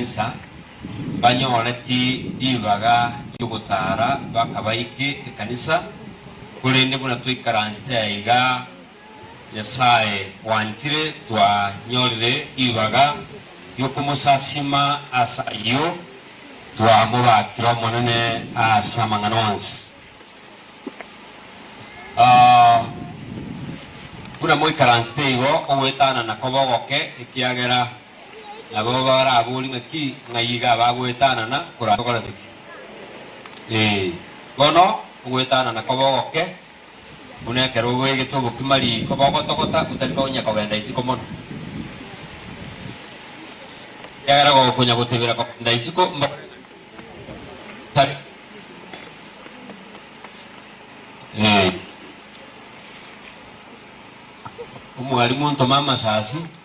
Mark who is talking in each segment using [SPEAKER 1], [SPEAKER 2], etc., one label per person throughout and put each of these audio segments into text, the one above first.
[SPEAKER 1] Musa, mbanyoreti ribaga ri'ogotaara bakabaike ekanisa, korende buna twaikaransete aiga Nyasae bwanchire twanyorire ribaga ri'okomosasiima ase ayio twamobakire Omonene ase amang'ana onsi. Buna moikaransete igo, ogoetanana koba ogoke ekiagera Nabo baraborie ng'aki, Ng'ai iga abagoetanana korakorete ki? Ee, bono ogoetanana kobe ogoke, buna ekero oboegete obokima riko bogotogota otari konya kogenda isiko mono. Ekiagera gokonya gotebera kogenda isiko mbore ng'a tari konya kogenda isiko. Ee, omwalimu ntome amasasi.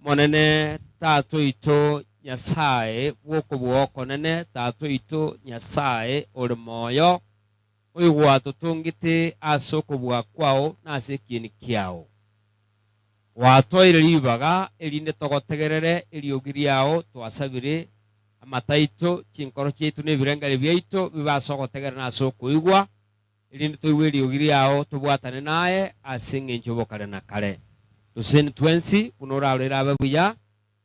[SPEAKER 1] Omonene, Tata oito Nyasae bw'okobua okonene, Tata oito Nyasae ore moyo, oigwatotongete ase okobua kwao na ase ekieni kiao, gwatoeire ribaga erinde togotegerere eriogi riao, twasabire amato aito, chinkoro chiaito na ebirengererio biaito bibe ase ogotegerera na ase okoigwa, erinde toigwe eriogi riao, tobwatane naye ase engencho y'obokare na kare, toseseni twensi, buna oraro erabe buya,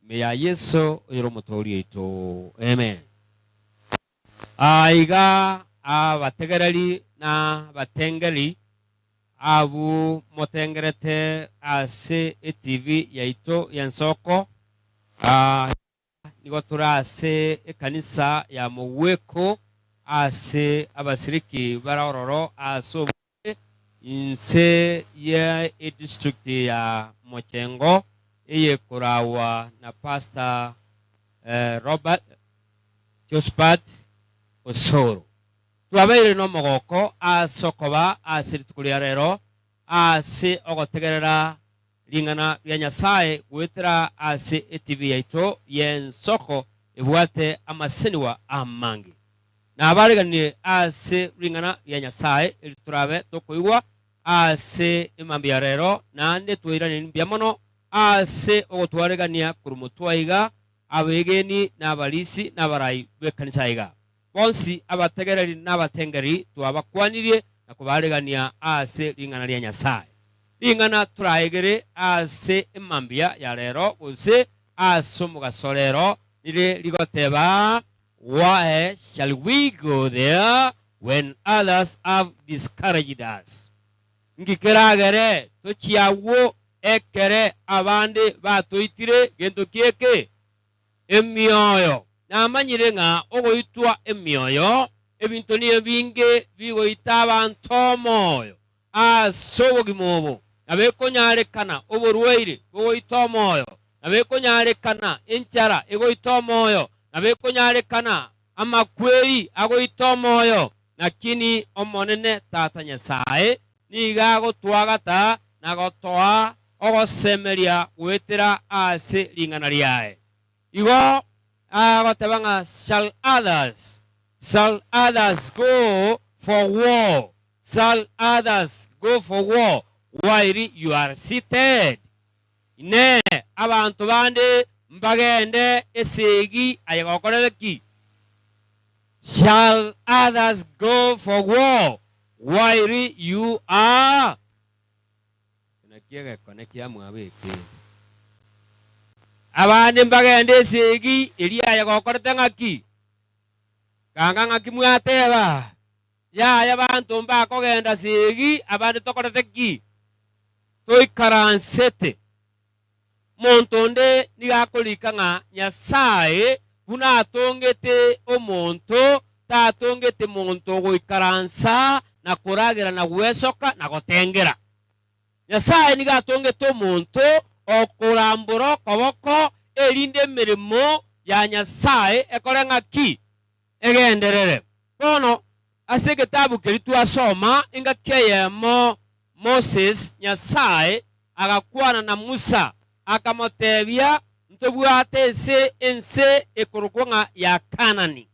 [SPEAKER 1] ime ya Yeso, oyore Omotoori oito. Amen. Aa iga abategereri na abatengeri abwo motengerete ase eTV yaito y'ensoko, aa. Aba nigo tore ase ekanisa ya mogweko ase abasiriki bare ororo ase omochie inse ye edistrict ya Mochengo eye koragwa na Pastor Robert Josphat Osoro. Twabeire nomogoko ase okoba ase rituko ria rero ase ogotegerera ring'ana ria Nyasae goetera ase etibi yaito y'ensoko ebwate amasenigwa amange. Nabaariganirie ase ring'ana ria Nyasae eri torabe tokoigwa ase emambia ya reero, naende twairanerie mbuya mono ase ogotwaregania korwa motwe aiga, abeegeni, na abarisi, na abarai b'ekanisa aiga. Bonsi abategereri nabatengeri twabakwanirie na kobaregania ase ring'ana ria Nyasae. Ring'ana toraegere ase emambia ya rero gose ase omogaso rero nire rigoteba, Why shall we go there when others have discouraged us? Inki keragere tochie agwo ekere abande batoitire gento ki'eke? Emioyo. Namanyire ng'a ogoitwa emioyo, ebinto niyo binge bigoita abanto omoyo ase obogima obo, na bekonyarekana oborwaire bogoita omoyo, na bekonyarekana
[SPEAKER 2] enchara egoita omoyo, na bekonyarekana amakweri agoita omoyo, lakini Omonene Tata Nyasae nigo agotwagata na gotoa ogosemeria goetera ase ring'ana riaye. Igo agoteba ng'a, Shall others, shall others go for war, shall others go for war, while you are seated? Inee! Abanto bande mbagende esegi aye gokorera ki? Shall others go for war while you are? Eke nakio egekone kia mwabo eke. Abande mbagende esegi eria aye gokorete ng'aki? Ganga ng'aki mwateba. Yaya abanto mbakogenda segi abande tokorete ki? Toikaransete. Omonto onde nigo akorika ng'a Nyasae buna atongete omonto, tatongete monto goikaransa na koragera na gwesoka na gotengera. Nyasae nigo atongete omonto okorambora okoboko erinde emeremo ya Nyasae ekore ng'a ki? Egenderere. Bono, ase egetabu keria twasoma engaki eyemo Moses, Nyasae agakwana na Musa, akamoteebia, Ntobwate ense, ense ekorokwa ng'a ya Kaanani.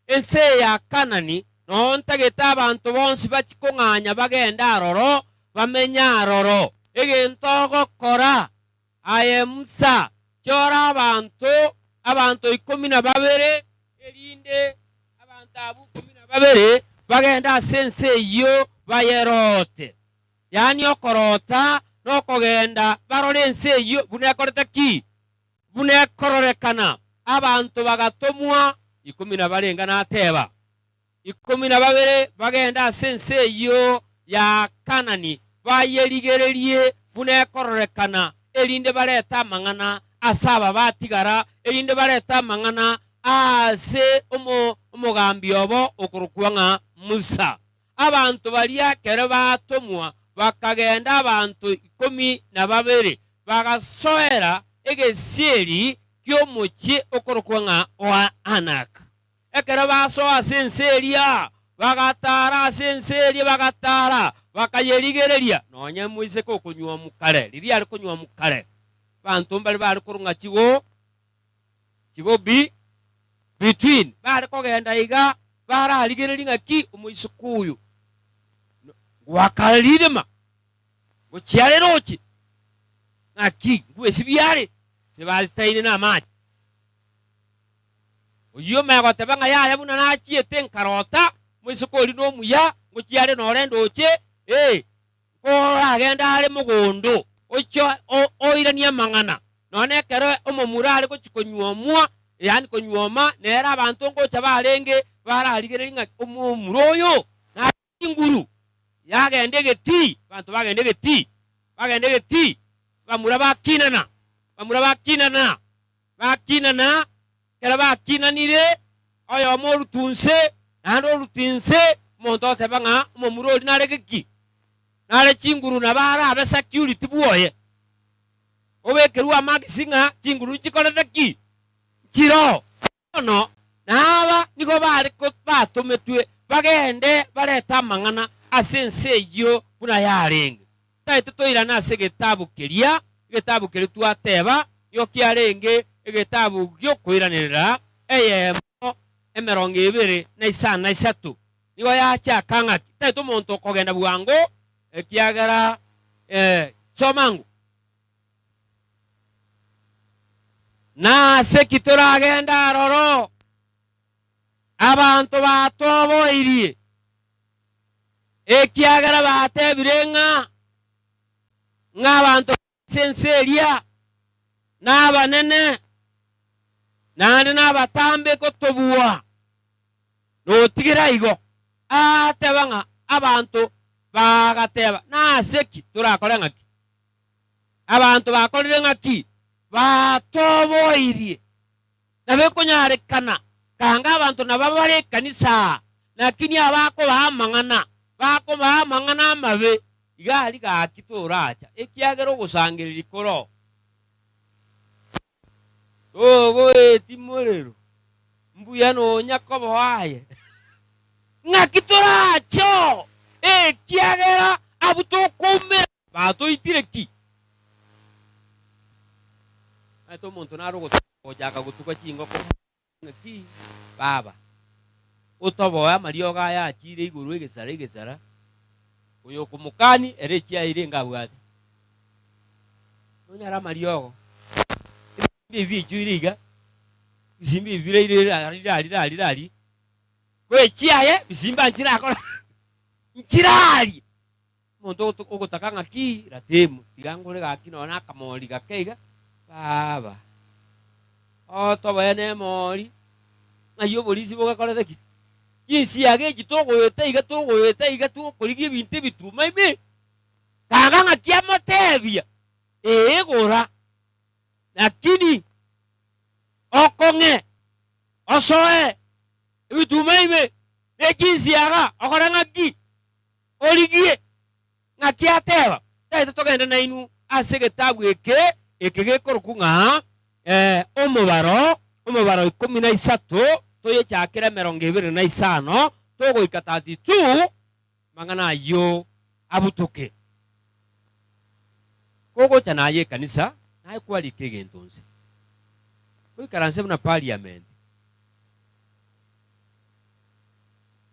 [SPEAKER 2] Ense eye ya Kaanani noyo ntagete abanto bonsi bachie kong'anya bagende aroro, bamenye aroro. Egento ogokora. Aye Musa, chora abanto, abanto ikomi na babere, erinde abanto abwo ikomi na babere bagende ase ense eyio bayeroote. Yaani okoroota na okogenda barore ense eyio buna ekorete ki? Buna ekororekana. Abanto bagatomwa ikomi na barenge, nateba, Ikomi na babere bagende ase ense eyio ya Kaanani, bayerigererie buna ekororekana, erinde barete amang'ana ase aba batigara, erinde barete amang'ana aase omogambi obo okorokwa ng'a Musa. Abanto baria ekero baatomwa bakagenda abanto ikomi na babere, bagasoera egesieri ki'omochie okorokwa ng'a Anak. Ekero basoa ase ense eria, bagataara ase ense eria, bagataara, bakayerigereria, nonya emoiseke okonyuomu kare, riria yare konyuomu kare. Abanto mbare bare korung'a chigo, chigo bi, between, bare kogenda iga, bararigererie ng'a ki, omoiseke oyo no, ngoakara ririma, ngochia are roche, ng'aki, ngwesibia are, ase baritaine namache. Oyio ime agoteba ng'a yaya buna nachiete nkarota moiseke oria nomuya ngochia are nore ndoche, ee, nkoragende are mogondo oiche oiranie amang'ana, nonya ekero omomura are gochia konyuomwa, yaani konyuoma, nere abanto ngocha barenge bararigererie ng'a omomura oyo nare. Chinguru yagenda egetii, banto bagenda egetii, bagenda egetii, bamura bakinana, bamura bakinana, bakinana, ekero bakinanire, oyomo orutu inse, naende orutu inse, omonto oteba ng'a omomura oria nare geki, nare chinguru nabo arabe security bwoye, obekerwe amagisi ng'a chinguru nichikorete ki? Nchiroo. Bono naaba nigo baare batometwe bagende barete amang'ana ase ense eyio buna yarenge. Taete toirane ase egetabu keria, egetabu keria twateba nigo kiarenge egetabu gi'okoiranerera eyemo emerongo ebere na isano na isato. Nigo yachaka ng'aki, Taete omonto okogenda bwango, ekiagera, ee, soma ng'o. Nase ki toragende aroro? Abanto batoboirie, ekiagera batebire ng'a ng'abanto b'ase ense eria nabanene, naende nabatambe gotobua. Notigire igo, agateba ng'a abanto bagateba, Nase ki torakore ng'ake? Abanto bakorire ng'aki? Batoboirie. Na bekonyarekana kanga abanto naba bare ekanisa aa, lakini abakobaa amang'ana bakobaa amang'ana amabe. Iga aria gaki toracha, ekiagera ogosangereria koroo. Togoeti morero, mbuya nonya koboa aye. Ng'aki torache oo, ekiagera abwo tokoumera batoitire ki? Naete omonto nare ogotoka gochaka gotuga chingoko. Naki, Baba, otoboe amariogo aya achiire igoro egesara egesara, oyokomokani ere echiaye ire enga abwate. Nonyare amariogo, ebisimba ebi biechwire iga, ebisimba ebi biraire rira rira rira rira ri, ko echiaye ebisimba nchirakore? Nchirarie. Omonto ogotaka ng'aki ratemu, tiga ngore gaki nonya nakamori gake iga, baba, oo tobaye nemori, ng'ai oborisia bogakorete ki? Chinsiaga echi togoeta iga togoeta iga togokorigia ebinto ebituma ime? Kaga ng'aki amotebia, Ee gora, lakini okong'e, osoe ebituma ime, ne chinsiaga, okore ng'aki? Origie ng'aki ateeba, Taete togende nainwe ase egetabu eke, eke gekorokwa ng'a Omobaro, omobaro ikomi na isato, toyechakere emerongo ebere na isano togoika 32, amang'ana ayio abutoke. Kogocha naye ekanisa, naye kwariika egento nse, goikaranse buna pariamenti.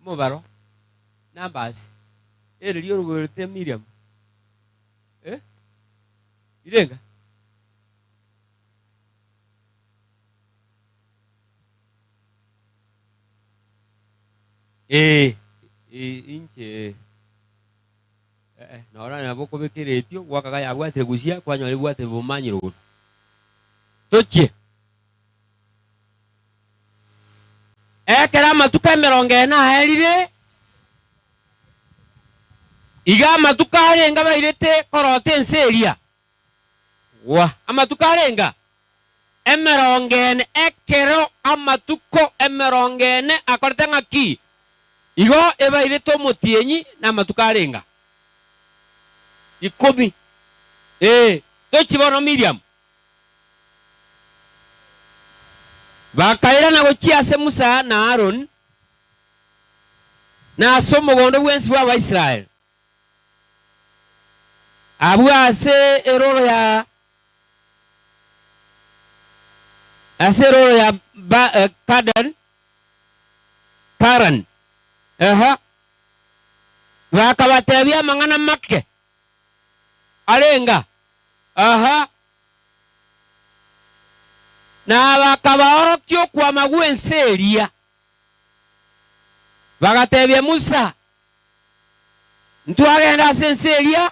[SPEAKER 2] omobaro, numbers, ere riria orogwerete Miriam, eh, rirenga? Eeh, eh, inche eh, eh, nora nabo okobeka eretio gwakaga yabwatire gochia kwanyora ebwate obomanyiro bono. Tochie. Ekero amatuko emerongo ene aerire, iga amatuko arenge abairete korota ense eria. Gwa! Amatuko arenge emerongo ene, ekero amatuko emerongo ene akorete ng'a ki, igo ebairete omotienyi na amatuko arenge ikomi. Ee, tochie bono Miriamu, Bakairana gochia ase Musa na Haroni, na ase omogondo bwensi bw'Abaisraeli, abwo ase erooro ya ase erooro ya Ba- eh, Kaden, Karani, ehe, bakabateebia amang'ana make. arenga aha, na bakabaorokia okwama gw'ense eria, bagatebia Musa, Ntwagenda ase ense eria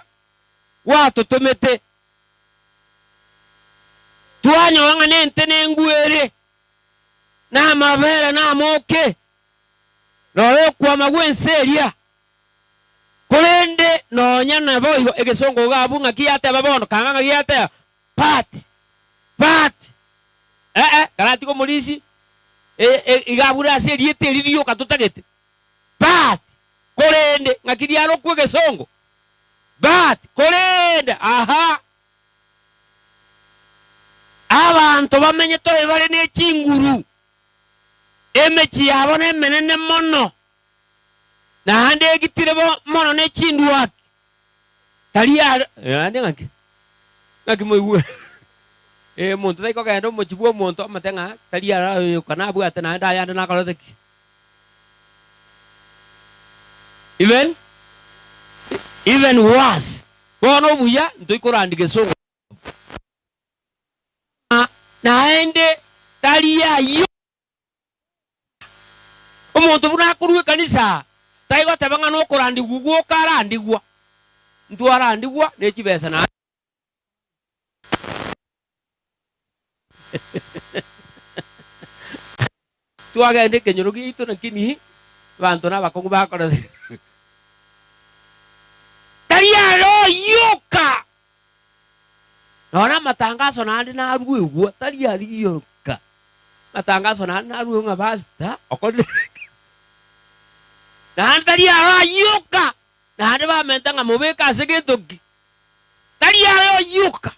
[SPEAKER 2] gwatotomete, twanyora ng'a nente nengwe ere, na amabera na amooke, rora okwama gw'ense eria, Korende nonya naboigo egesongo iga abwo ng'aki yateba bono, kanga ng'aki yateba, Part! Part! Ee, karatige omorisi e, e, iga abure ase erieta eri rioka totagete, Part! Korende ng'aki riarokwa egesongo, But! Korende, aha! Abanto bamenyete oyo bare ne chinguru, emechie yabo nemenene mono. Naende egitire bo mono ne chindwaki, tari aro, naende ng'aki? Ng'aki moigue? Eh, omonto tai kogenda omochie bw'omonto omote ng'a tari arayoka nabwate naende ayande nakorete ki? Even, even worse, bono obuya ntoikorandi gesongo ng'a naende tari ayoka. Omonto buna akorua ekanisa tai goteba ng'a nokorandigwa ugwo okarandigwa. Ntwarandigwa ne chibesa naende. Twagenda ekenyoro giaito lakini abanto nabakong'u bakora. Tari aro yoka Nonye amatangaso naende naruegwe, tari aria oka, amatangaso naende naruegwe ng'a pastor okorire eke, naende tari aro ayio oka, naende bamente ng'a mobeke ase gento ki, tari aye oyio oka,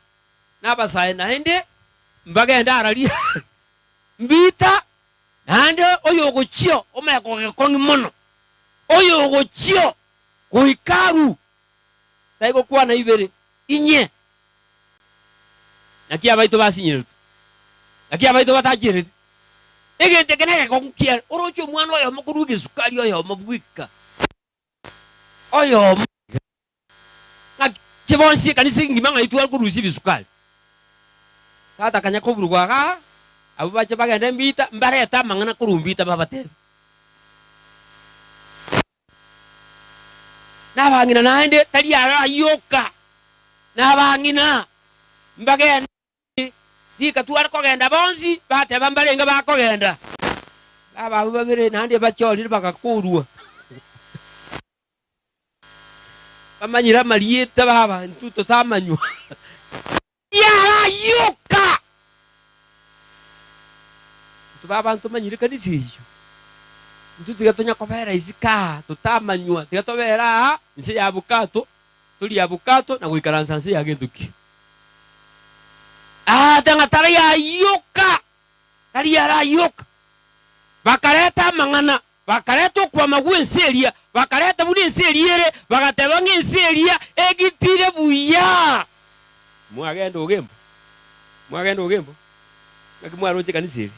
[SPEAKER 2] na abasae naende mbagende ara rioka, mbita naende oyogochio omanye kogekong'i mono, oyogochio goika aruu. taigokwana ibere, inye, Naki abaito basinyeretwe, naki abaito batachireti. Egento eke negekongu kiaye, oroche omwana oyomo korwa egesukari oyomo bweka, oyomo iga, ng'aki inche bonsi ekanisa engima ng'ai tware korusia ebisukari? Tata akanya koburugwa iga, abwo bache bagende mbita, mbarete amang'ana korwa mbita babatebi. Nabang'ina naende tari arayoka nabang'ina mbagende ime, rika tware kogenda bonsi bateba mbarenge bakogenda. Baba abwo babere naende bachorire bagakorwa. Bamanyire amarieta baba intwe totamanywa. Biarayoka! Intwe babanto manyire ekanisa eyio, intwe tiga tonya kobera isiko aa totamanywa, tiga tobere aa inse ya bokato, torie abokato na goikaransa inse ya gento ki. Aa tiga ng'a tari ayoka, tari arayoka. Bakareta amang'ana, Bakareta okwama gw'ense eria, bakareta buna ense eria ere, bagateba ng'a ense eria egitire buya. Mwagenda ogembo, mwagenda ogembo, naki mwaroche ekanisa eri?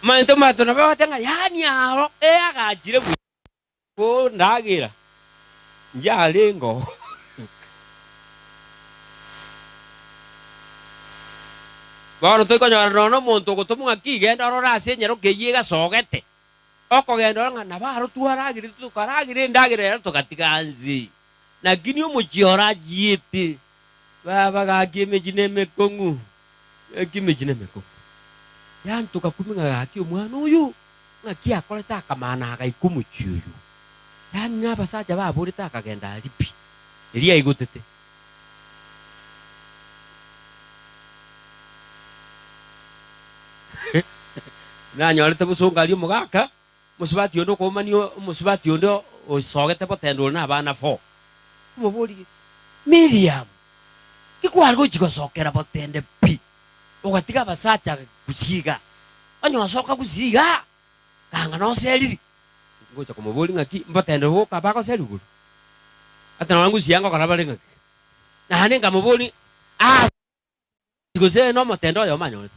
[SPEAKER 2] Amanto mato nabo bagoteba ng'a, Yaani aro eagachire buya. Nigo ndagera nchiarenge oo. Bono toikonyora nonya nomonto ogotoma ng'aki, Genda orore ase enyaroka eyio egasogete. Okogenda orore ng'a nabo aroro twaragire, tokaragire endagera ero togatiga nse. Lakini omochie ore achiete, baba gaki emechie nemekong'u, gaki emechie nemekong'u. Yanchoka kumi ng'a gaki omwana oyo ng'aki akorete akamana agaika omochie oyo. Yaani nabasacha baborete akagenda aria pi, erio aigotete. Nanyorete bosongo aria omogaka Omosubati onde okoumania omosubati onde oisogete botendore na abana four, okomoboria, Miriam, nikware gochia gosokera botende pi, ogatiga abasacha gusii iga, onye osoka gusii iga, kanga noseriri? Ngocha komoboria ng'aki, mbotende boka bagoseri igoro? Ata nonye gusii iga ngokora bare ng'aki? Naende nkamoboria, Ase. gose nomotende oyomo anyorete.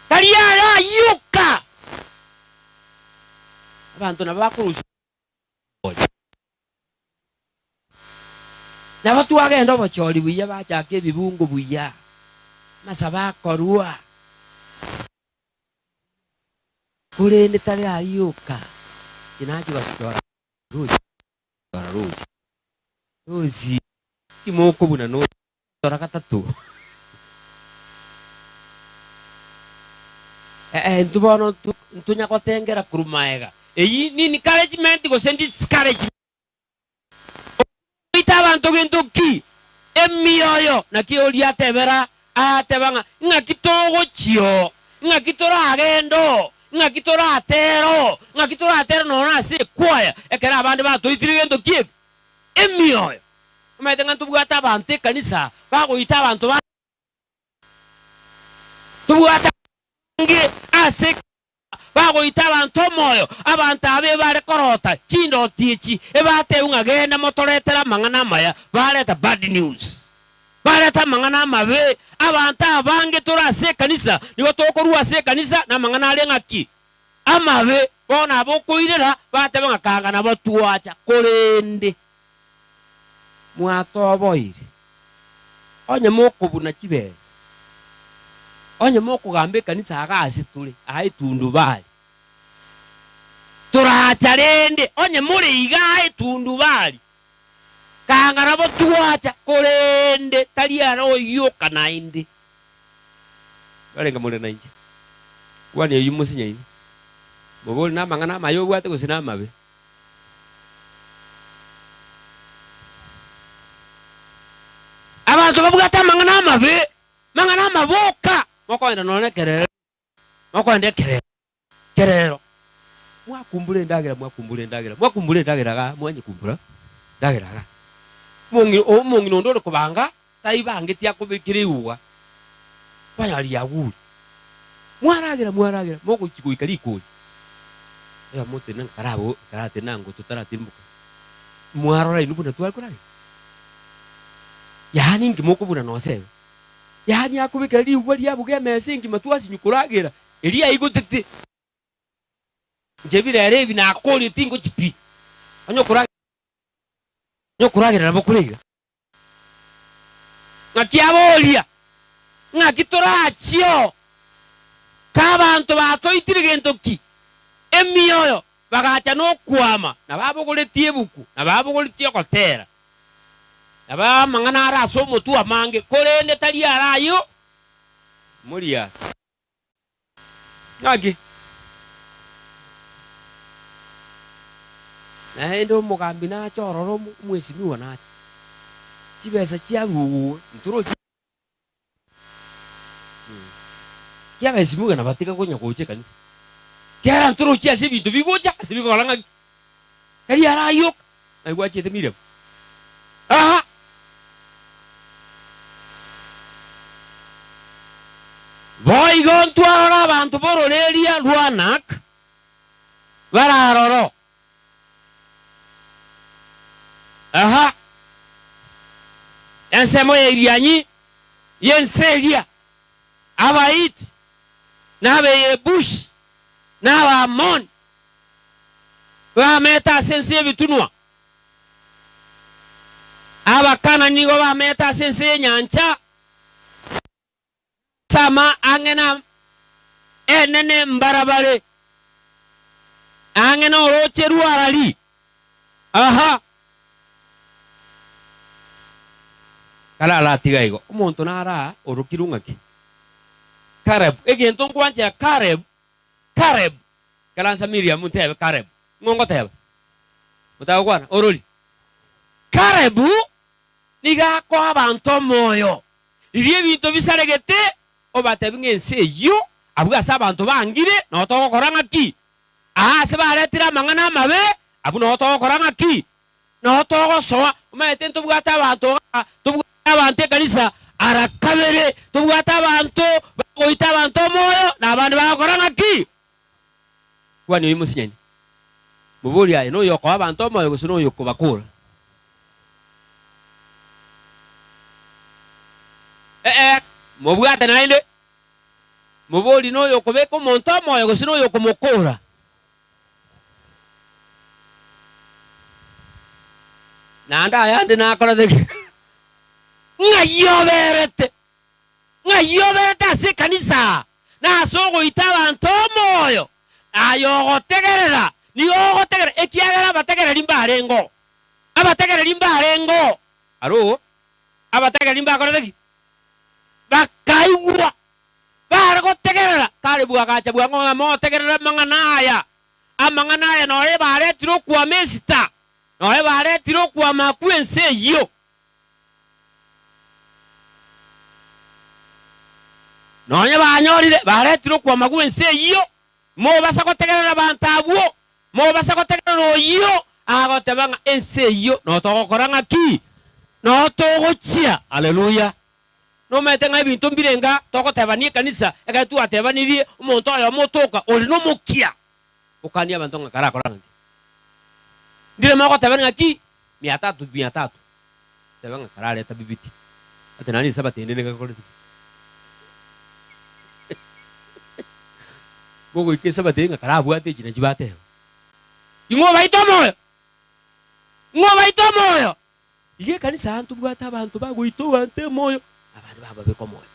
[SPEAKER 2] Tari aya ayoka, abanto nabo bakorusia oye. Nabo twagenda obochori buya, bachaka ebibungo buya, amasabo akorwa, korende tari ayoka, inche nachi gosochora rusia. Timokoinyora Rosie. Rosie, timokobuna nonya gotora gatato? Ee, intwe bono ntonya gotengera korwa maega. Eyio n'encouragement gose discouragement? Okoroita abanto gento ki? Emioyo. Naki oria atebera Agateba ng'a, Ng'aki togochia oo? Ng'aki toragende oo? Ng'aki toratere oo? Ng'aki toratere nono ase ekwaya, ekero abande batoitire gento ki'ebi? Emioyo! Omanyete ng'a ntobwate abanto ekanisa bagoita abanto bange, tobwate abanto bange ase ekanisa. Bagoita abanto omoyo, abanto aba ebare korota chindoto echi, ebatebia ng'a genda motoretere amang'ana amaya, bareta bad news. Bareta amang'ana amabe. Abanto abange tore ase ekanisa nigo tokorua ase ekanisa namang'ana are ng'a ki? Amabe. Bono aba okoirera batebe ng'a kanga nabo twacha korende mwatoboire, onye mokobuna chibesa, onye mokogamba ekanisa aga ase tore aa etundubari. Toracha rende, onye more iga aa etundubari, kanga nabo twacha, korende tari ara oyoka naende. Mwarenge more nainche? Kwania oyio mosinyaini, mobore namang'ana amaya obwate gose namabe. Abanto babwate amang'ana amabe, mang'ana amaboka, mokoenda nonya nekerero, mokoenda ekerero, kerero, mwakumbura endagera, mwakumbura endagera, mwakumbura endagera igaa, mwanyekumbura endagera igaa, omong'i- omong'ina onde ore kobanga taibangeti akobekera egugwa konya riagure. Mwaragera, mwaragera, mogochi goika rikori. Oyomo otenena ng'a karabe o- karatenena ng'a oto taratimboke. Mwarora inwe buna tware koragera? Yaani inki mokobuna nosebe? Yaani akobekera rigugwa riabuga emesa engima twasinywa koragera, eria yaigotete. Inche bi rero ebi nakoorire tingochi pi. Onye okorage, onye okoragera nabo kore iga. Naki abooria, Ng'aki torachie oo? Ka abanto batoitire gento ki? Emioyo bagacha nokwama, na babogoretie ebuku, na babogoretie ogoteera, na baa amang'ana are ase omotwe amange, korende tari ara ayio moriato. Naki? Naende omogambi nache ororo omwesimi ogo nache. Chibesa chiaruogwe ntorochi Ki abesimi iga nabatiga konya gocha ekanisa? Kera ntorochi ase ebinto bigocha ase bikogora ng'aki? Tari arayoka. Aye gwachete Miriamu. Aha! Boigo ntwarore abanto b'ororeria rw'Anak bare aroro. Aha! Ensemo y'erianyi y'ense eria, Abahiti, na Abayebusi, na Abaamoni, Bamete ase ense y'ebitunwa, Abakana nigo bamete ase ense y'enyancha, na ase ama ang'e na ene nembarabare, na ang'e n'orooche rw'Arali. Aha! Kararatiga igo, omonto nara orokirwe ng'aki? Karebu. Egento nkwanchera Karebu. Kareb, karansa Miriam ntebe Kareb, ng'o ngoteba? Motagokwana, orori. Kareb nigo akoa abanto omoyo, riria ebinto bisaregete, obatebi ng'a ense eyio abwo ase abanto bangire, nao togokora ng'aki? Aa ase baretire amang'ana amabe, abwo nao togokora ng'aki? Nao togosoa, omanyete ntobwate abanto aa, tobwate abanto ekanisa ara kabere, tobwate abanto bagoita abanto omoyo, na abande bagokora ng'aki? Kuhani oyio mosinyani, moborie aye, Noyokoa abanto omoyo gose noyokobakora? Ee, mobwate naende. Moborie, Noyokobeka omonto omoyo gose noyokomokora? Naende ayande nakorete ki? Ng'ai oberete? Ng'ai oberete ase ekanisa aa, na ase ogoita abanto omoyo? Aye ogotegerera, nigo ogotegerera, ekiagera abategereri mbarenge oo, abategereri mbarenge oo. Aro oo abategereri mbakorete ki? Bakaigwa. Gare gotegerera, kare bwagacha bwango ng'a motegerere amang'ana aya. Amang'ana aya noyo baretire okwama esita, noyo baretire okwama kw'ense eyio. Nonya banyorire baretire okwama gw'ense eyio, mobasa gotegerera abanto abwo, mobasa gotegerera oyio agoteba ng'a ense eyio notogokora ng'aki? Notogochia. Haleluya! Nomerete ng'a ebinto mbirenga togotebania ekanisa, ekero twatebanirie omonto oyomo otoka ore nomokia, okania abanto ng'a karakore ang'e. Ndire mogotebania ng'aki mia tatu mia tatu, tebe ng'a karareta bibiti, ate nare inse abatende nigo ekorete ki? Mogoika inse abatende ng'a karabwate echi nachi bateba. Ing'o obaite omoyo? Ing'o obaite omoyo? Iga ekanisa aa ntobwate abanto bagoita oboanto emoyo, na abande bababeka omoyo.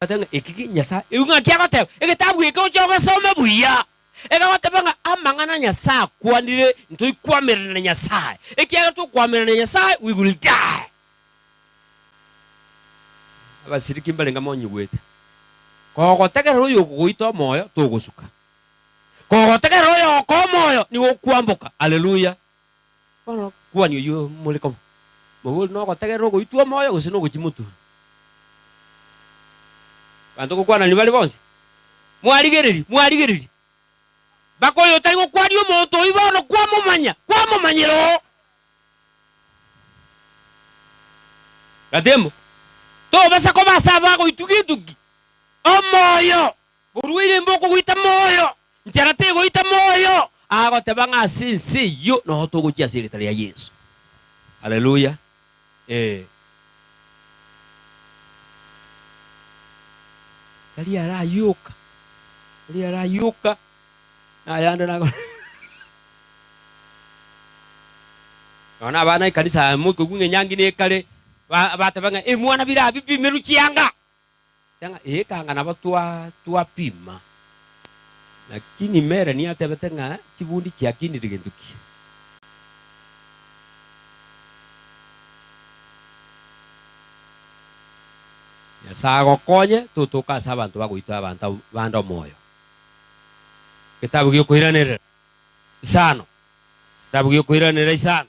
[SPEAKER 2] Tobwate ng'a eki ki Nyasae ewigwe ng'a kiagoteba, Egetabu eke oche ogesome buya, egagoteba ng'a amang'ana Nyasae akwanire ntoi koamerana na Nyasae, ekiagera tokoamerana na Nyasae we will die. Abasiriki mbare ng'a monyigwete. Kogotegerera oyokogoita omoyo togosuka. Kogotegerera oyogokoa omoyo nigo okwamboka. Alleluia! Bono kuhani oyio more koba moboori nogotegerera ogoitwa omoyo gose nogochia motuuri? Abanto gokwananiri bare bonsi, Mwarigereria, mwarigereria! Mpaka oyo otari gokwania omonto oyio bono kwamomanya, kwamomanyera oo. Gatebo, tobasa koba ase abagoitwa getugi omoyo. Korwa ere mbokogoita moyo, nchera tegoita moyo, agoteba ng'a ase ense eyio nogo togochia ase erieta ria Yeso. Haleluya! Ee. Tari arayoka, tari arayoka, nayande nago Nonya na abana ekanisa aya moikogwa ng'a enyangi nekare, ba- bateba ng'a, Ebimwana bire abwo bimerwe chianga, Eeka ng'a nabo twapima. Lakini Mere nigo atebete ng'a chibundi chiakinire gento ki? Nyasae agokonye totoke ase abanto bagoitwa abanto bande omoyo. Getabu giokoiranerera isano. Getabu giokoiranerera isano.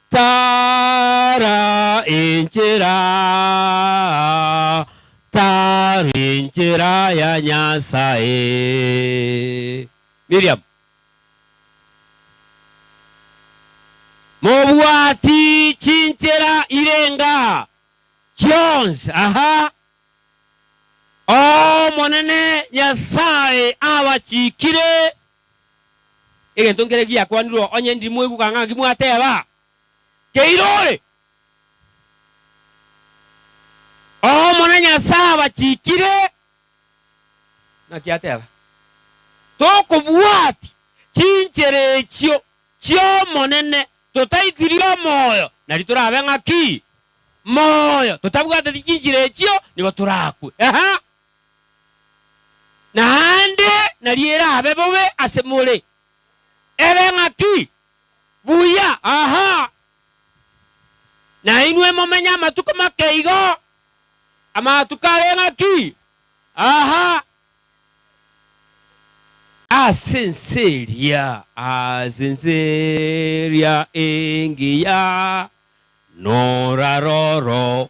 [SPEAKER 2] Tara enchera, tara enchera ya Nyasae. Miriam. Mobwati chinchera irenga chionsi aha. Omonene Nyasae abachikire Egento nkere giakwanirwe onye ndimweguka ng'aki mwateba, Keire ore! Omonene Nyasae abachikire, naki ateba, Tokobwati chinchera echio chi'Omonene, totaitirie omoyo, nari torabe ng'aki? Moyo! Totabwateti chinchera echio, nigo torakwe. Eha! naende nario erabe bobe ase more. Ere ng'aki? Buya, aha. Nainwe momenye amatuko make igo, amatuko are ng'aki? Aha. Ase ense eria, ase ense eria engiya, noraroro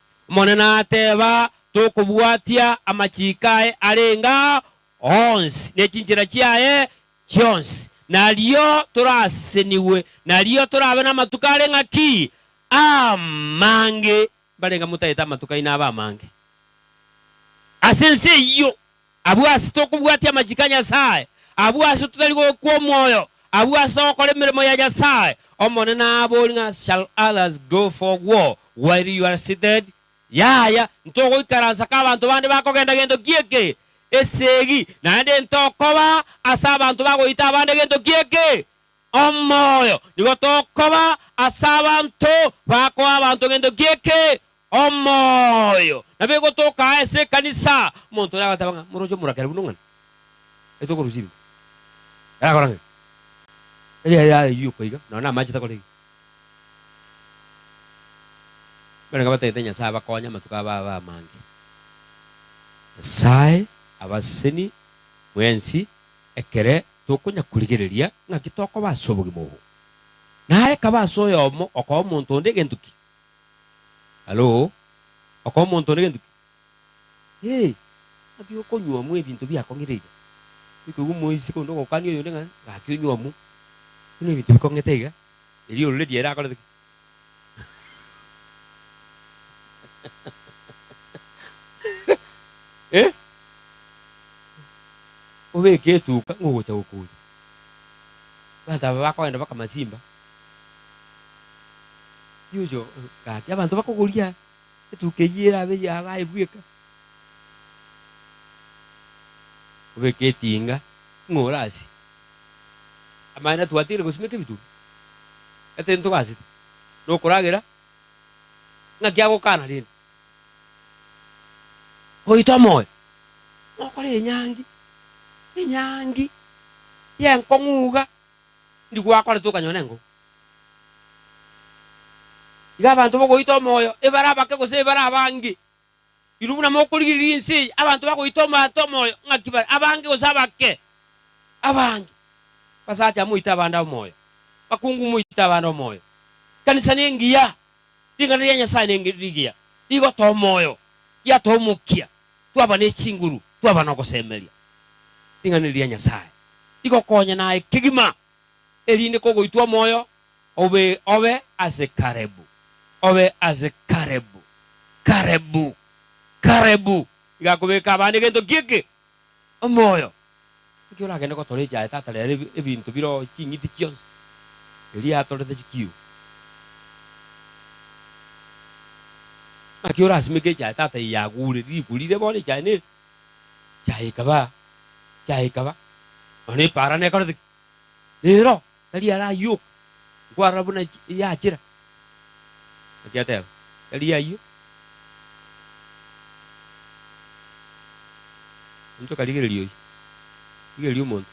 [SPEAKER 2] Omonene ateeba, Tokobwatia amachiiko aye arenge ao onsi, ne chinchera chiaye chionsi, nario torasesenigwe, nario torabe namatuko are ng'aki amange, mbarenge motaete amatuko aino abe amange ase ense eyio. Abwo ase tokobwatia amachiko a Nyasae, abwo ase totari gokwa omoyo, abwo ase togokora emeremo ya Nyasae, Omonene aabori ng'a shall others go for war while you are seated? Yaya, ntogoikaransa ka abanto bande bakogenda gento ki'eke? Esegi, naende ntokoba ase abanto bagoita abande gento ki'eke? Omoyo nigo tokoba ase abanto bakoa abanto gento gi'eke omoyo. Nabo egotoka aa ase ekanisa, omonto oria agateba ng'a moroche omorakera buna ong'ana, ere tokorusia ebibe, ere akora ng'ai? Erio ere ayioka iga, nonya namache takora iga. Barenge batagete Nyasae abakonye amatuko aba abe amange. Nyasae abaseseni mwensi ekere tokonyakorigereria ng'aki tokoba ase obogima obo. Na aye kaba ase oyomo okoa omonto onde egento ki? Halo? Okoa omonto onde egento ki? Ee, ng'aki okonyuomwa ebinto biakong'ireire. Tikoigwa omoiseke onde ogokania oyonde ng'a, Gaki onyuomwa, buna ebinto bikong'ete iga, erio ororeria ere akorete ki? Eh, obeke etuka ng'ogocha gokunya. Abanto aba bakogenda baka masimba. Yujo gaki abanto bakogoria etuka eyio erabe ya abaye bweka. Obeke etinga ng'ora ase. Amang'ana twatiire gosimeka ebitunwa, etari ntogasete, nokoragera ng'aki agokana rende goita omoyo, nokore enyangi, enyangi y'enkong'u iga, ndi gwakorete okanyora enkong'u. Iga abanto bogoita omoyo ebare abake gose ebare abange. Inwe buna mokorigereria ense eye, abanto bagoita omobata omoyo ng'aki bare abange gose abake? Abange. Abasacha moite abande omoyo, abakungu moite abande omoyo. Ekanisa nengiya, ring'ana ria Nyasae nenge rigiya, rigotoa omoyo, riatoa omokia, twaba ne chinguru, twaba nogosemeria. Ring'ana eri ria Nyasae rigokonya naye kegima. erinde kogoitwa omoyo obe obe ase Kalebu, obe ase Kalebu, Kalebu, Kalebu. Iga akobeka abana egento gi'eke, omoyo. Naki oragende gotorecha aye tata rero ebi, ebinto biro ching'iti chionsi, erio atorete chikiru. Naki orasimeke echae tata eye yagure, rigurire bono echae neri. Chiaye ikaba, chiaye ikaba, nonya epaara nekorete ki? Nero tari arayioka, nkwarora buna chi- yachera. Naki ateba, tari yayio. Inchoka rigereria oyio, rigereria omonto.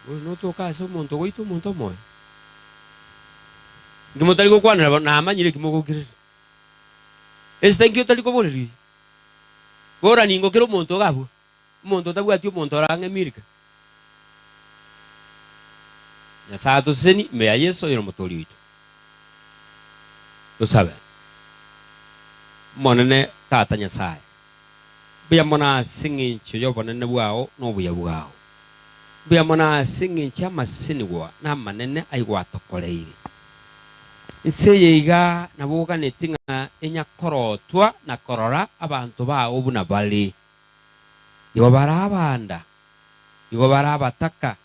[SPEAKER 2] Bono notoke ase omonto ogoita omonto omoyo? Inki motari gokwanera bono, namanyire eki mogokirera. Esita inki otari koboreria oyio? Bora ningo kera omonto ogabua, omonto otabwati omonto ore ang'e Milka. Nyasae atoseseni ime ya Yeso oyo nomotoori oito. Tosabe. Omonene Tata Nyasae, mbuya mono ase engencho yobonene bwao na obuya bwao. Mbuya mono ase engencho y'amasenigwa na amanene ayio gwatokoreire. Inse eye iga nabo oganeti ng'a enyakorotwa na korora abanto bao buna bare. Igo bare abanda, igo bare abataka,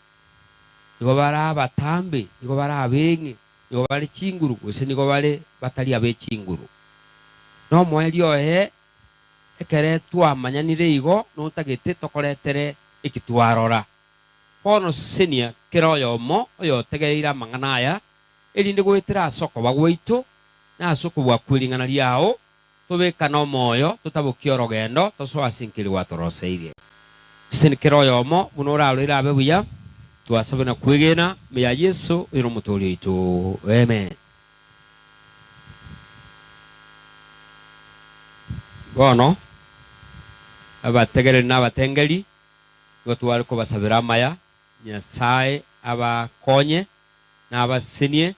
[SPEAKER 2] igo bare abatambe, igo bare abeng'e, igo bare chinguru, gose nigo bare batari abe chinguru. Nomoerio oye, ekere twamanyanire igo notagete tokoretere eki twarora. Bono sesenia kera oyomo oyotegereire amang'ana aya, erinde goetera ase okoba gwaito, na ase okobua kwe ring'ana riao, tobekane omoyo, totabokie orogendo, tosoe ase enki eria gwatoroseirie. Seseni kera oyomo buna oraroire abe buya, twasabire na kwegena, ime ya Yeso, oyo n'Omotoori oito. Amen. Bono, abategereri nabatengeri. Nigo tware kobasabera amaya, Nyasae abakonye na abasesenie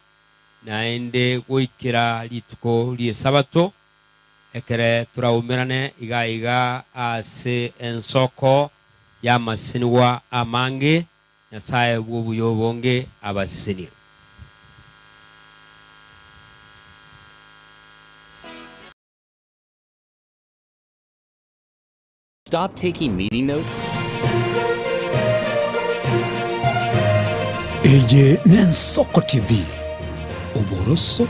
[SPEAKER 2] naende goikera rituko ri'Esabato, ekere toraumerane iga iga ase ensoko y'amasesenigwa amange, Nyasae bw'obuya obonge abasesenie.
[SPEAKER 3] Stop taking meeting notes?
[SPEAKER 4] Eye n'Ensoko TV, oboroso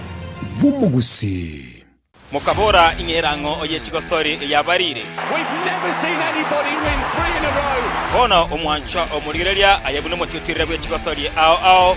[SPEAKER 4] bw'omogusii. Mokabora
[SPEAKER 5] ing'ee rang'o oye chigosori eyabarire.
[SPEAKER 6] Bono omwanchwa
[SPEAKER 5] omorigereria aye buna omotiotirire bwe chigosori ao ao.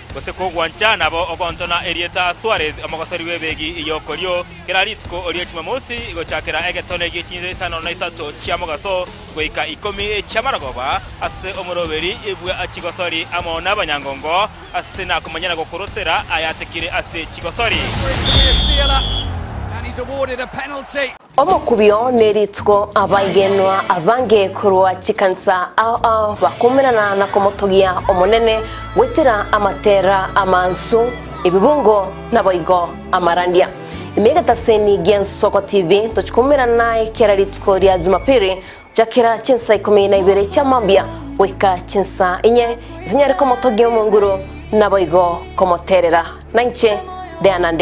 [SPEAKER 5] gose kogwancha nabo ogontona erieta Suarez omogosori bw'ebeegi eye okorio kera rituko oria chimamosi gochakera egetone gie chinsa isano na isato chia mogaso goika ikomi chia marogoba ase omoroberi bwa chigosori amo nabanyangongo ase nakomanyana gokorosera ayatekire ase chigosori.
[SPEAKER 6] Omokubio ne
[SPEAKER 7] rituko abaigenwa abange korwa chikanisa ao ao bakomenana na komotogia Omonene goetera amatera amansu, ebibungo, na boigo amarandia. Ime egetaseni gi'Ensoko TV tochikomerana naye kera rituko ria Jumapili gochakera chinsa ikomi na ibere chia mambia goika chinsa inye itonyare komotogia omonguru na boigo komoterera. Nainche Diana Ndegwa.